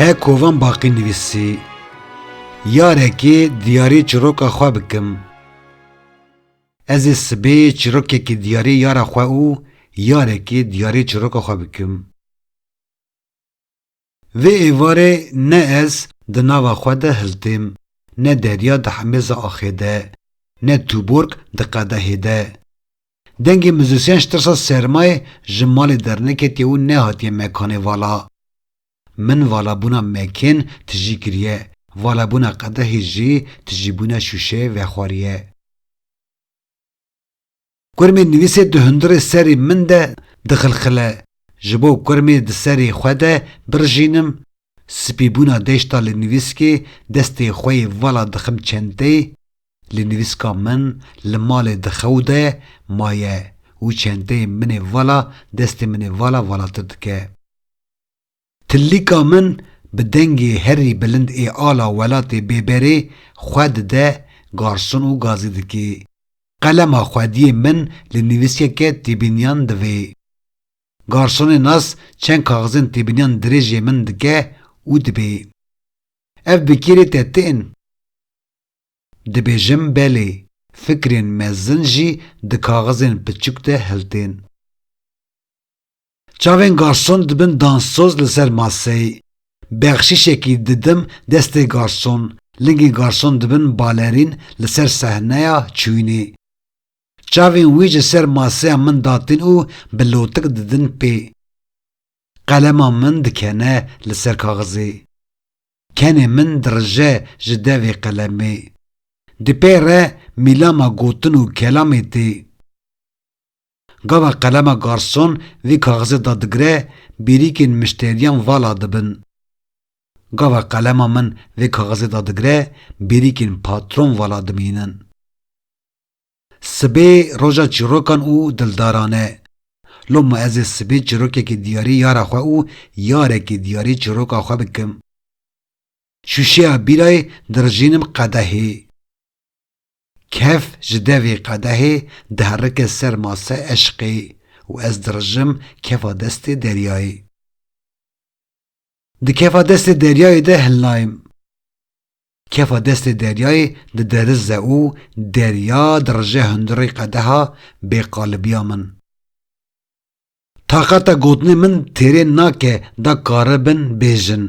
He kovan baqî nivîsî Yarekê diyarê çiroka xwe bikim. Ez ê sibê çirokekî diyarê yara xwe û yarekê diyarê çiroka xwe bikim. Vê êvarê ne ez di nava xwe de hiltêm, ne derya di hemêza axê de, ne tûborg di qedehê de. Dengê muzîsyen ji tirsa sermayê ji malê derneketiye û nehatiye mekanê vala. Min valabûna mekên tijî kiriye, valabûna qedehê jî tijîbûna şûşeyê vexwariye. Kurmê nivîsê di hundirê serê min de dixilxile, ji bo kurmê di serê xwe de birijînim, spîbûna deşta li nivîskê destê xwe yê vala dixim çenteyê, li nivîska min li malê di xew de maye û çenteyê min ê vala destê min ê vala valatir dike. Tilika min bi dengê herî bilind ê ala welatê bêberê xwe dide garson û gazî dikê. Qelema xwediyê min li nivîsyeke têbîniyan divê. Garsonê nas çend kaxizên têbîniyan dirêjê min dike û dibê. Ev bi kêrê te ti in? Dibêjim belê, fikrên mezin jî di kaxizên piçûk de hiltên. Çavên garson dibin danssoz li ser maseyê. Bexşîşekî didim destê garson, lingên garson dibin balerîn li ser sehneya çûyînê. Çavên wî ji ser maseya min datin û bi lotik didin pê. Qelema min dikene li ser kaxizê. Kenê min dirije ji devê qelemê. Di pê re mîlama gotin û kelamê tê. Gava qelema garson vê kaxizê da digire, bêrîkên mişteriyan vala dibin. Gava qelema min vê kaxizê da digire, bêrîkên patron vala dimînin. Sibê roja çîrokan û dildaran e. Loma ez ê sibê çîrokekî diyarê yara xwe û yarekî diyarê çîroka xwe bikim. Şûşeya bîrayê dirijînim qedehê. Kef ji devê qedehê diherike ser mase eşqê û ez dirijim kefa destê deryayê. Di kefa destê deryayê de hilnayim. Kefa destê deryayê diderize û derya dirije hundirê qedeha bêqalibiya min. Taqeta gotinê min têrê nake da karibin bêjin.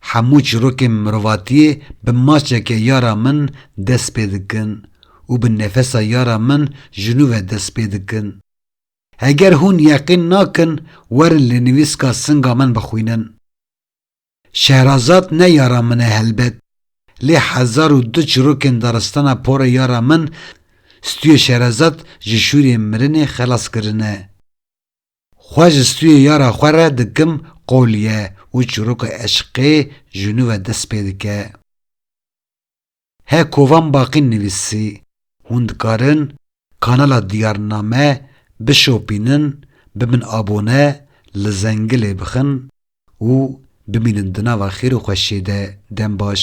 Hemû çîrokên mirovatiyê bi maçeke ya ra min dest pê dikin û bi nefesa ya ra min ji nû ve dest pê dikin. Heger hûn yeqîn nakin werin lênivîska singa min bixwînin. Şehrazad ne yara min e helbet, lê hezar û du çirokên daristana porê yara min stûyê Şehrazad ji şûrê mirinê xelas kirine. Xwe ji stûyê yara xwe re dikim qolîye û çiroka eşqê ji nû ve dest pê dike. He Kovan Baqî nivîsî, Hûn dikarin kanala Diyarname bişopînin, bibin abone, li zengilê bixin û bimînin di nava xêr û xweşiyê de. Dem baş.